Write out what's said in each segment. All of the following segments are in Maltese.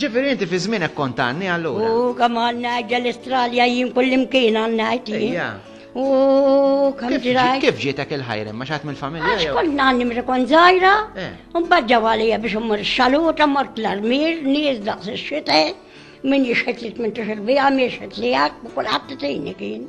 Ġifiri inti fi żmienek kont għanni allura. U kemm għanni għajja l-Istralja jien kullimkien għanni għajja. U kemm ġiraj. Kif ġietek il-ħajrin ma xaħat mill-familja? Għax kont nanni mrekon zaħira, eh. un badġa għalija biex mmur xaluta, mort l-armir, nies daqs xite, min jixħet li t-mintu xil-bija, mi jixħet li għak, u kull ħadd tini kien.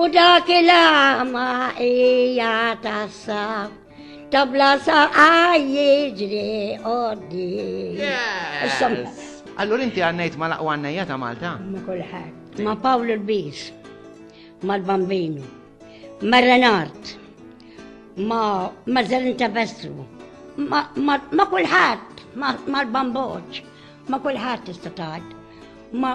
U dak il-għama hija tassa tabla saqa jiġri għoddi. Allura inti għannejt ma laqwa għannejja ta' Malta? Ma kulħadd. Ma Pawl il-Bis, ma l-Bambinu, ma Renard, ma Mazzalin ta' Vestru, ma kulħadd, ma l-Bamboċ, ma kulħadd tista' tgħid. Ma